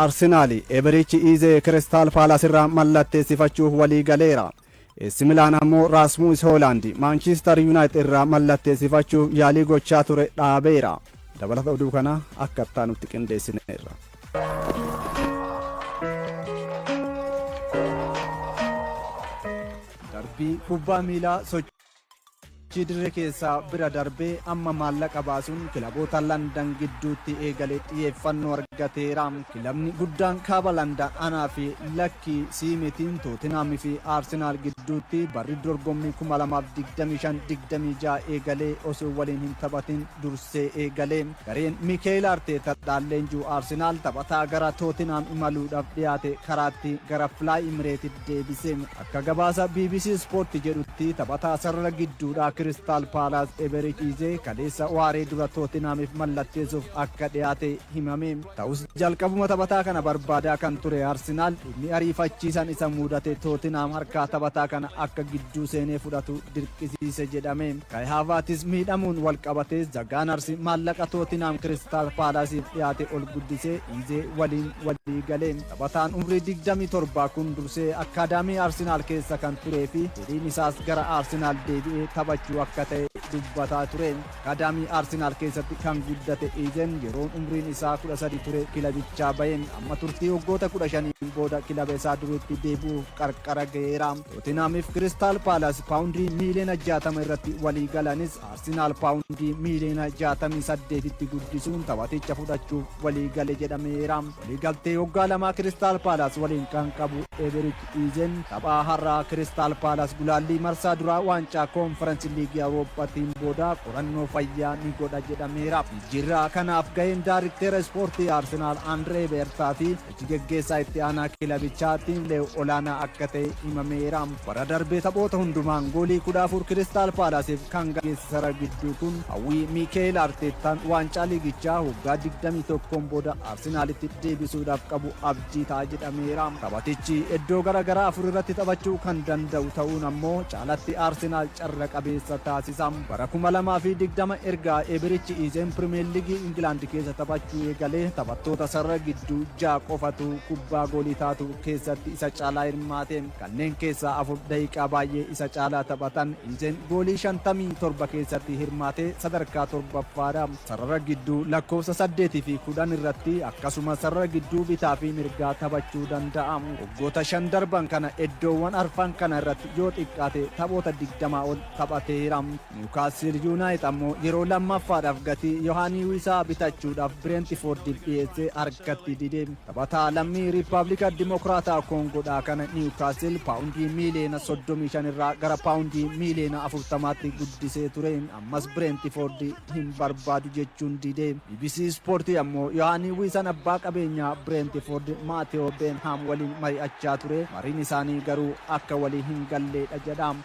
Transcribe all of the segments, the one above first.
Arsenaal Eberichi Iizee Kiristaal Paalaas irraa mallatteessifachuuf walii galeera. Eessi Milaan ammoo Raasmuus Hoolaand Maanchiistar Yuunaayitid irraa mallatteessifachuuf yaalii gochaa ture dhaabeera. Dabalata oduu kanaa akka itti aanutti qindeessineerra. Darbii kubbaa miilaa sochii. Chi dirree keessaa bira darbee amma maallaqa baasuun kilaboota Landan gidduutti eegale xiyyeeffannoo argateera. Kilabni guddaan kaaba Landan anaa fi lakkii sii mitiin Tootinaam fi Aarsenaal gidduutti barri dorgommii 2025-26 eegalee osoo waliin hin taphatin dursee eegale. Gareen Miikeel Arteeta dhaalleenjuu Aarsenaal taphataa gara Tootinaam imaluudhaaf dhiyaate karaatti gara Filaay Imireetit deebise. Akka gabaasa bbc Sport jedhutti taphataa sarara gidduudhaa Kiristaal Paalaas Eberik Iizee kaleessa waaree dura Tootinhaamiif mallatteessuuf akka dhiyaate himame. Ta'us jalqabuma taphataa kana barbaadaa kan ture Arsinaal dhimmi ariifachiisan isa muudate Tootinhaam harkaa taphataa kana akka gidduu seenee fudhatu dirqisiise jedhame. Kai Haavaatis miidhamuun walqabatee Zagaanarsi maallaqa Tootinhaam Kiristaal Paalaasiif dhiyaate ol guddisee Iizee waliin walii gale. Taphataan umrii 27 kun dursee akkaadaamii Arsenaal keessa kan turee fi fedhiin isaas gara Arsenaal deebi'ee taphachuu akka ta'e dubbataa ture. Akkaadaamii Arsenaal keessatti kan guddate Iizen yeroon umriin isaa 13 ture kilabichaa bahe. Amma turtii waggoota 15n booda kilaba isaa duriitti deebi'uuf qarqara gaheera. Tootenhaamiif Kiristaal Paalaas paawundii miiliyoona 60 irratti walii galanis Arsenaal paawundii miiliyoona 68tti guddisuun taphaticha fudhachuuf walii gale jedhameera. Waliigaltee waggaa lamaa Kiristaal Paalaas waliin kan qabu Eberik Iizen taphaa har'aa Kiristaal Paalaas gulaallii marsaa duraa waancaa koonferensi liigii Awurooppaatiin booda qorannoo fayyaa ni godha jedhameera. Jijjiirraa kanaaf gaheen daarikteera ispoortii Arsenaal Andree Beertaa fi Hojji geggeessaa itti aanaa kilabichaa Tiimleew olaanaa akka ta'e himameera. Bara darbe taphoota hundumaan goolii 14 Kiristaal Paalaasiif kan gaggeessisara gidduu kun hawwii Miikeel Arteettaan waancaa liigichaa waggaa 21n booda Arsenaalitti deebisuudhaaf qabu abdii ta'a jedhameera. Taphatichi iddoo gara garaa afur irratti taphachuu kan danda'u ta'uun ammoo caalatti Arsenaal carra qabeessa taasisa. Bara 2020 erga Eeberichi Iizeen Pirimeer Liigii Ingilaand keessa taphachuu eegalee taphattoota sarara gidduu ja'a qofatu kubbaa goolii taatu keessatti isa caalaa hirmaate. Kanneen keessaa afur daqiiqaa baay'ee isa caalaa taphatan. Iizeen goolii 57 keessatti hirmaatee sadarkaa torbaffaadha. Sarara gidduu lakkoofsa 8 fi 10 irratti akkasumas sarara gidduu bitaa fi mirgaa taphachuu danda'a. Waggoota shan darban kana eddoowwan arfan kana irratti yoo xiqqaate taphoota 20 ol taphateera. Niwukaasiil Yuunaayit ammoo yeroo lammaffaadhaaf gatii Yohaanii Wiisaa bitachuudhaaf Bireentifoordiif dhiyeesse harkatti dide. Taphataa lammii Riippaabilika Dimokiraataa Koongoodhaa kana Niwukaasiil paawundii miiliyoona 35 irraa gara paawundii miiliyoona 40tti guddisee ture. Ammas Bireentifoordi hin barbaadu jechuun dide. Bbc Ispoortii ammoo Yohaanii Wiisaan abbaa qabeenyaa Bireentifoordi Maatewoo Beenhaam waliin mari'achaa ture. Mariin isaanii garuu akka walii hin galleedha jedha.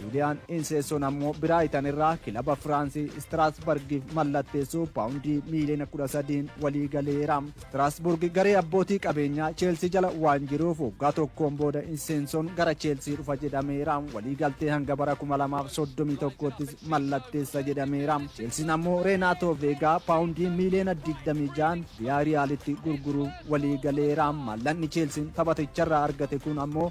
Juuliyaan Inseessoon ammoo Biraayitan irraa kilaba Firaansii Istiraasbargiif mallatteessuu paawundii miiliyoona 13n walii galeera. Istiraasburg garee abbootii qabeenyaa Cheelsii jala waan jiruuf waggaa tokkoon booda Inseensoon gara Cheelsii dhufa jedhameera. Waliigaltee hanga bara 2031ttis mallatteessa jedhameera. Cheelsiin ammoo Reenaatoo Veegaa paawundii miiliyoona 26n Viyaariyaalitti gurguruuf walii galeera. Maallaqni Cheelsiin taphaticharraa argate kun ammoo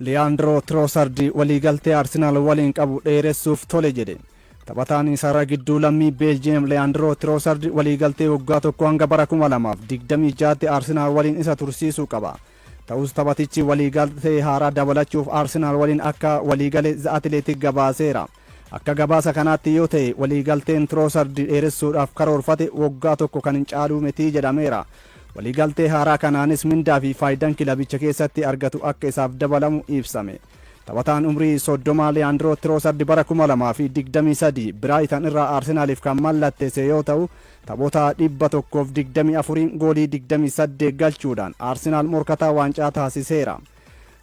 Liyaandiroo Tiroosardi waliigaltee Arsenaal waliin qabu dheeressuuf tole jedhe. Taphataan sarara gidduu lammii Beeljiyeem Liyaandiroo Tiroosardi waliigaltee waggaa tokkoo hanga bara 2026tti Arsenaal waliin isa tursiisuu qaba. Ta'us taphatichi waliigaltee haaraa dabalachuuf Arsenaal waliin akka waliigale The Athletic gabaaseera. Akka gabaasa kanaatti yoo ta'e waliigalteen Trossard dheeressuudhaaf karoorfate woggaa tokko kan hin caaluu miti jedhameera. Waliigaltee haaraa kanaanis mindaa fi faayidan kilabicha keessatti argatu akka isaaf dabalamu ibsame. Taphataan umrii 30 Leandro Trossard bara 2023 Brighton irraa Arsenalif kan mallatteesse yoo ta'u, taphoota 124'n goolii 28 galchuudhaan Arsenal morkataa waancaa taasiseera.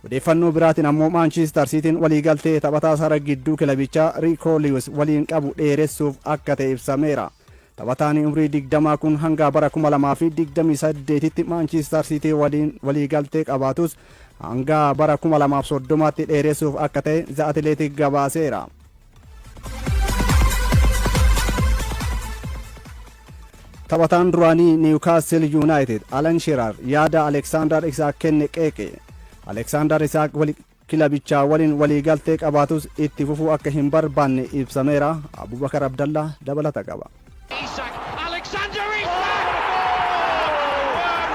Odeeffannoo biraatiin ammoo Maanchiistar Siitiin waliigaltee taphataa sara gidduu kilabichaa Riikoo Liwis waliin qabu dheeressuuf akka ta'e ibsameera. Taphataan umrii 20 kun hanga bara 2028tti Maanchiistar Siitii waliin waliigaltee qabaatus hanga bara 2030tti dheeressuuf akka ta'e The Athletic gabaaseera. Taphataan duraanii Niwukaastil Yuunaayitid Alan Sheerar yaada Aleksaandar Isaak kenne qeeqe. Aleksaandar Isaak kilabichaa waliin waliigaltee qabaatus itti fufuu akka hin barbaanne ibsameera. Abubakar Abdallaa dabalata qaba. Isak, Alexander Isak!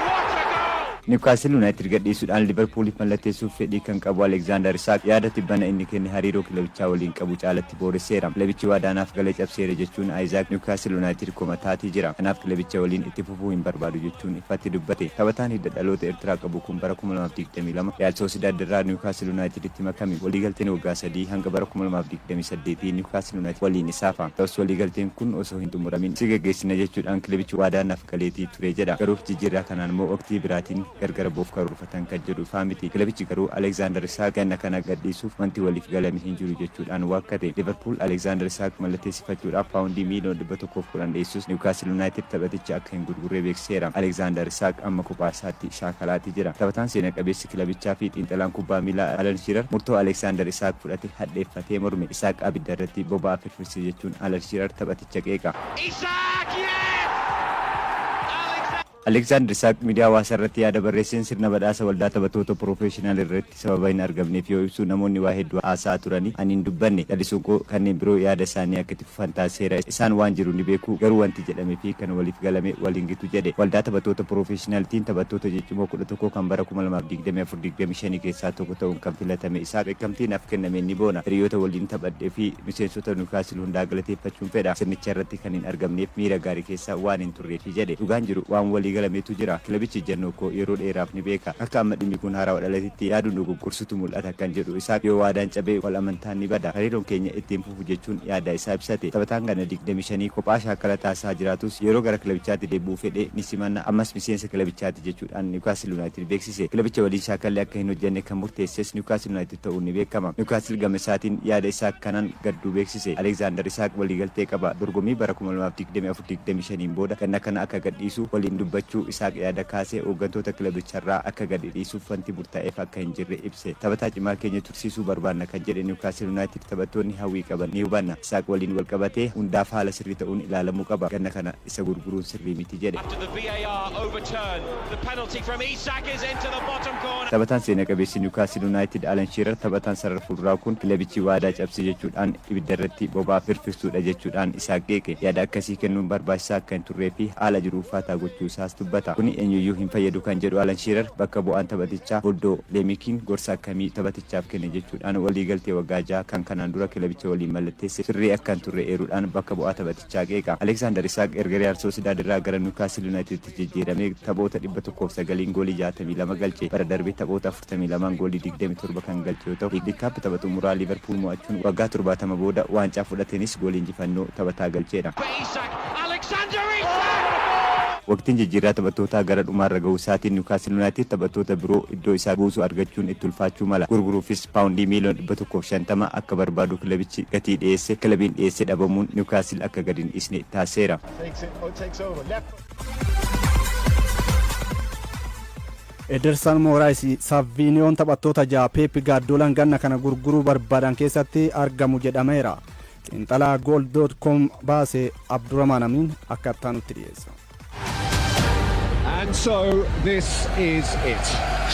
What a goal! Niwkaasil Yuunaayitid gadhiisuudhaan Liivarpuuliif mallatteessuuf fedhii kan qabu Alexander Isak, yaada tibbana inni kenne hariiroo kilabichaa waliin qabu caalatti booresseera. Kilabichi waadaa naaf gale cabseera jechuun Isak, Niwkaasil Yuunaayitid komataati jira. Kanaaf kilabicha waliin itti fufa. fufuu hin barbaadu jechuun ifatti dubbate. Taphataan hidda dhaloota Ertiraa qabu kun bara 2022 Riyaal Soosidaad irraa Niwukaasl Yunaayitiditti makame. Waliigalteen waggaa sadii hanga bara 2028 Niwukaasl Yunaayitid waliin isaafa. Ta'us waliigalteen kun osoo hin xumuramin si gaggeessina jechuudhaan kilebichi waadaa naaf galeetii ture jedha. Garuu jijjiirraa kanaan moo waqtii biraatiin gargar ba'uuf karoorfate. hojjetan kan jedhu ifaa miti. Kilabichi garuu Alekzaandar Isaaq ganna kana gadhiisuuf wanti waliif galame hin jiru jechuudhaan waakkate. Liiverpuul Alekzaandar Isaaq mallatteessifachuudhaaf paawundii miiliyoona 110 dhiyeessus Niwukaastil Yunaayitid taphaticha akka hin gurgurre beeksiseera. Alekzaandar Isaaq amma kophaasaatti shaakalaati jira. Taphataan seena qabeessi kilabichaafi xiinxalaan kubbaa miilaa Alan Shiirar murtoo Alekzaandar Isaaq fudhate hadheeffatee morme. Isaaq abiddarratti boba'aa firfirse jechuun Alan Shiirar taphaticha qeeqa. Isaaq! Yes! Alekzaandar! Aleksaandar Isaaq miidiyaa hawaasaa irratti yaada barreesseen sirna badhaasa waldaa taphatoota proofeeshinaal irratti sababa hin argamneef yoo ibsu namoonni waa hedduu haasa'aa turani ani hin dubbanne. Callisuun koo kanneen biroo yaada isaanii akka itti fufan taasiseera. Isaan waan jiru ni beeku garuu wanti jedhame fi kan waliif galame wal hin gitu jedhe. Waldaa taphatoota proofeeshinaaltiin taphattoota ciccimoo 11 kan bara 2024 25 keessaa tokko ta'uun kan filatame Isaaq beekamtii naaf kennameen ni boona. Hiriyoota waliin taphadhe fi miseensota Niwukaasil hundaa galateeffachuun fedha. Sirnicha irratti kan hin argamneef miira gaarii keessa waan hin Reefii jedhe. Dhugaan jiru waan walii galametu jira. Kilabichi ijjannoo koo yeroo dheeraaf ni beeka. Akka amma dhimmi kun haarawa dhalatetti yaaduun dogoggorsutu mul'ata kan jedhu Isaak, yoo waadaan cabe wal amantaan ni bada. Hariiroon keenya itti hin fufu jechuun yaada isaa ibsate. Taphataan ganna digdamii shanii kophaa shaakala taasisaa jiraatus yeroo gara kilabichaatti deebi'uu fedhe ni simanna. Ammas miseensa kilabichaati jechuudhaan Niwkaasil Yunaayitid beeksise. Kilabicha waliin shaakalli akka hin hojjanne kan murteesses Niwkaasil Yunaayitid. ta'uun ni beekama. Niwkaasil gama isaatiin yaada Isaak kanaan gadduu beeksise. Aleekzaandar Isaak waliigaltee qaba. Dorgommii bara kuma lamaa fi digdamii afur, digdamii shaniin booda ganna kana akka gadhiisu waliin dubbachuu Isaak yaada kaasee hooggantoota kilabicharraa akka gadhidhiisuuf wanti murtaa'eef akka hin jirre ibse. Taphataa cimaa keenya tursiisuu barbaanna kan jedhe Niwkaasil Yunaayitid taphattoonni hawwii qaban ni hubanna. Isaak waliin walqabatee hundaaf haala sirrii ta'uun ilaalamuu qaba. Ganna kana. isa gurguruun sirrii miti jedhe. Taphataan seena qabeessi Niwkaasil Yunaayitid Alan Shiirar taphataan sarara fuulduraa kun kilabichi waadaa cabse jechuudhaan ibidda irratti boba'aa firfirsuudha jechuudhaan Isaak qeeqe. Yaada akkasii kennuun barbaachisaa akka hin turree fi haala jiru ulfaataa gochuu isaas dubbata. Kuni eenyuyyuu hin fayyadu kan jedhu Alan Shiirar bakka bu'aan taphatichaa Boldo Leemikiin gorsa akkamii taphatichaaf kenne jechuudhaan waliigaltee waggaa jaha kan kanaan dura kilabicha waliin mallatteesse sirrii akka hin turre eeruudhaan bakka bu'aa taphatichaa Jaak Eekaa. Aleeksaandar Isaaq erga Riyaal Soosidaad irraa gara Niwukaastil Yunaayitiditti jijjiiramee taphoota 109n goolii 62 galche. Bara darbe taphoota 42n goolii 27 kan galche yoo ta'u, Liigdi Kaap tapha xumuraa Liiverpuul mo'achuun waggaa 70 booda waancaa fudhateenis goolii injifannoo taphataa galcheedha. Waqtiin jijjiirraa taphattootaa gara dhumaarra gahuu isaatiin Niwukaastil Yunaayitid taphattoota biroo iddoo isaa buusu argachuun itti ulfaachuu mala. Gurguruufis paawundii miiliyoona dhibba tokkoo fi shantama akka barbaadu kilabichi gatii dhiyeesse kilabiin dhiyeesse dhabamuun Niwkaasil akka gadi hin dhiisne taasiseera. Edersan Mooraayis Saviiniyoon taphattoota ja'a Peep Gaaddoolaan ganna kana gurguruu barbaadan keessatti argamu jedhameera. Xiinxalaa Gool.com baase Abduramaan Amiin akka itti aanutti dhiyeessa. And so this is it.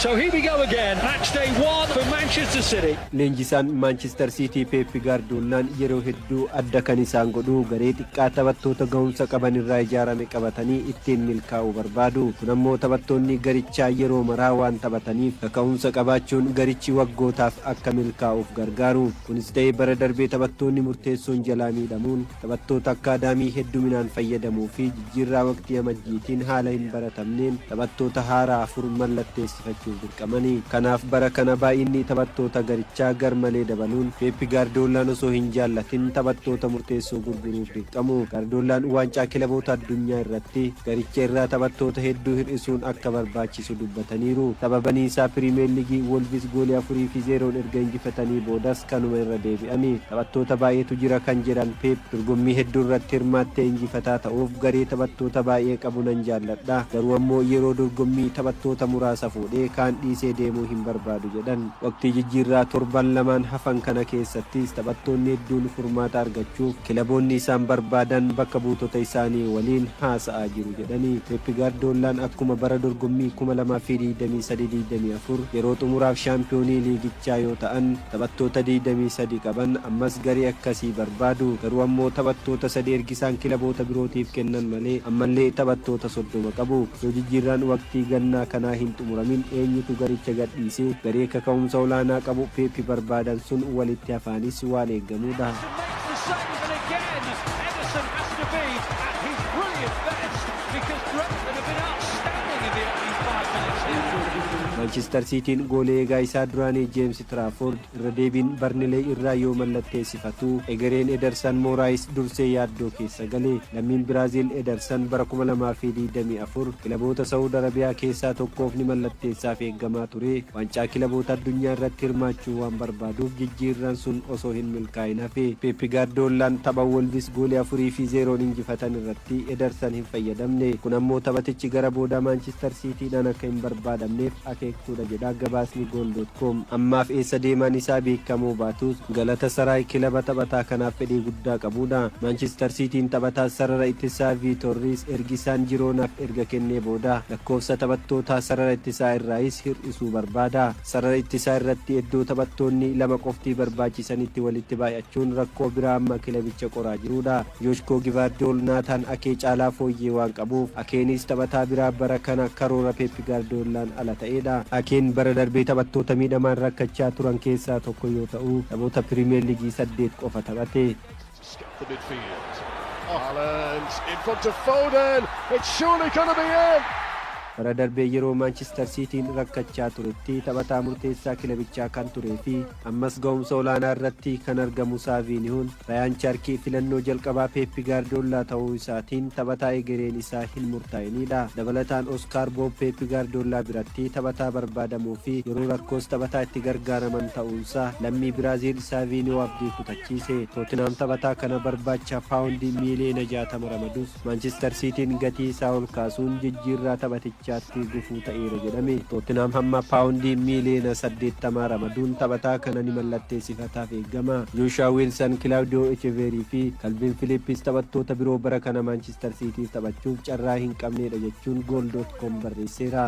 So here we go again, match day one for Manchester City. Leenjisaan Maanchister Siitii Peep Gaardiyoolaan yeroo hedduu adda kan isaan godhu garee xiqqaa taphattoota gahumsa qaban irraa ijaarame qabatanii ittiin milkaa'uu barbaadu. Kun ammoo taphattoonni garichaa yeroo maraa waan taphataniif kaka'umsa qabaachuun garichi waggootaaf akka milkaa'uuf gargaaru. Kunis ta'ee bara darbee taphattoonni murteessoon jalaa miidhamuun Taphattoota akkaadaamii hedduminaan fayyadamuu fi jijjiirraa waqtii Amajjiitiin haala hin baratamneen taphattoota haaraa afur mallatteessifachuuf dirqamani. Kanaaf bara kana baay'inni taphattoota garichaa garmalee dabaluun Peep Gaardiyoollaan osoo hin jaallatin taphattoota murteessoo gurguruuf dirqamu. Gaardiyoollaan Waancaa Kilaboota Addunyaa irratti garicha irraa taphattoota hedduu hir'isuun akka barbaachisaa ta'e ibseera. taasisu dubbataniiru. Sababani isaa Piriimiyar Liigii Woolvis goolii 4 fi 0'n erga injifatanii boodas kanuma irra deebi'ani. Taphattoota baay'eetu jira kan jedhan Peep, dorgommii hedduu irratti hirmaattee injifataa ta'uuf garee taphattoota baay'ee qabu nan jaalladha. Garuu ammoo yeroo dorgommii taphattoota muraasa fuudhee kaan dhiisee deemuu hin barbaadu jedhan. Waqtii jijjiirraa torban lamaan hafan kana keessattis taphattoonni hedduun furmaata argachuuf kilaboonni isaan barbaadan bakka buutota isaanii waliin haasa'aa jiru. jedhanii, Peep Gaardiyoollaan akkuma bara dorgommii 2023, 24 yeroo xumuraaf shaampiyoonii liigichaa yoo ta'an taphattoota 23 qaban ammas garee akkasii barbaadu. Garuu ammoo taphattoota sadii ergisaan kilaboota birootiif kennan malee ammallee taphattoota 30 qabu. Osoo jijjiirraan waqtii gannaa kanaa hin xumuramin eenyutu garicha gadhiisee garee kaka'umsa olaanaa qabu Peep barbaadan sun walitti hafaanis waan eegamuudha. Maanchistar Siitiin goolii eegaa isaa duraanii Jeemsi Tiraafoord irra deebiin Barnileey irraa yoo mallatteessifatu, egereen Edersan Mooraayis dursee yaaddoo keessa gale. Lammiin Biraaziil Edersan bara 2024 kilaboota Sa'ud Arabiyaa keessaa tokkoof ni mallatteessaaf eegamaa ture. Waancaa Kilaboota Addunyaa irratti hirmaachuu waan barbaaduuf jijjiirraan sun osoo hin milkaa'in hafe. Peep Gaardiyoollaan tapha Woolvis goolii 4 fi 0n injifatan irratti Edersan hin fayyadamne. Kun ammoo taphatichi gara boodaa Maanchistar Siitiidhaan akka hin barbaadamneef akeektuudha jedha gabaasni Goal. com. Ammaaf eessa deemaan isaa beekamuu baatus, Galatasaraay kilaba taphataa kanaaf fedhii guddaa qabuudha. Maanchistar Siitiin taphataa sarara ittisaa Viitoor Riis ergi Saan Jiroonaaf erga kennee booda lakkoofsa taphattootaa sarara ittisaa irraayis hir'isuu barbaada. Sarara ittisaa irratti eddoo taphattoonni lama qofti barbaachisanitti walitti baay'achuun rakkoo biraa amma kilabicha qoraa jiruudha. Joshkoo Givaardiyool Naataan Akee caalaa fooyyee waan qabuuf, Akeeniis taphataa biraa bara kana karoora Peep Gaardiyoollaan ala ta'eedha. Akeen bara darbee taphattoota miidhamaan rakkachaa turan keessaa tokko yoo ta'u, taphoota Piriimeer Liigii saddeet qofa taphate. Bara darbe yeroo Maanchistar Siitiin rakkachaa turetti taphataa murteessaa kilabichaa kan turee fi ammas ga'umsa olaanaa irratti kan argamu Saaviinihoon Rayaan Chaarkii filannoo jalqabaa Peeppi Gaardoollaa ta'uu isaatiin taphataa egereen isaa hin murtaa'inidha. Dabalataan Oskaar Boob Peeppi Gaardoollaa biratti taphataa barbaadamoo fi yeroo rakkoos taphataa itti gargaaraman ta'uunsaa lammii Biraaziil Saviiniyoo abdii kutachiise. Tootinaam taphataa kana barbaacha paawundii miiliyoona 60 ramadus Maanchistar Siitiin gatii isaa ol kaasuun jijjiirraa taphatichaatti gufuu ta'eera jedhame. Tootinaam hamma paawundii miiliyoona 80 ramaduun taphataa kana ni mallatteessifataaf eegama. Jooshuwaa Wiilsan, Kilaawudiyoo Echeveerii fi Kalviin Filiippis taphattoota biroo bara kana Maanchistar Siitiif taphachuuf carraa hin qabneedha jechuun Goal.com barreesseera.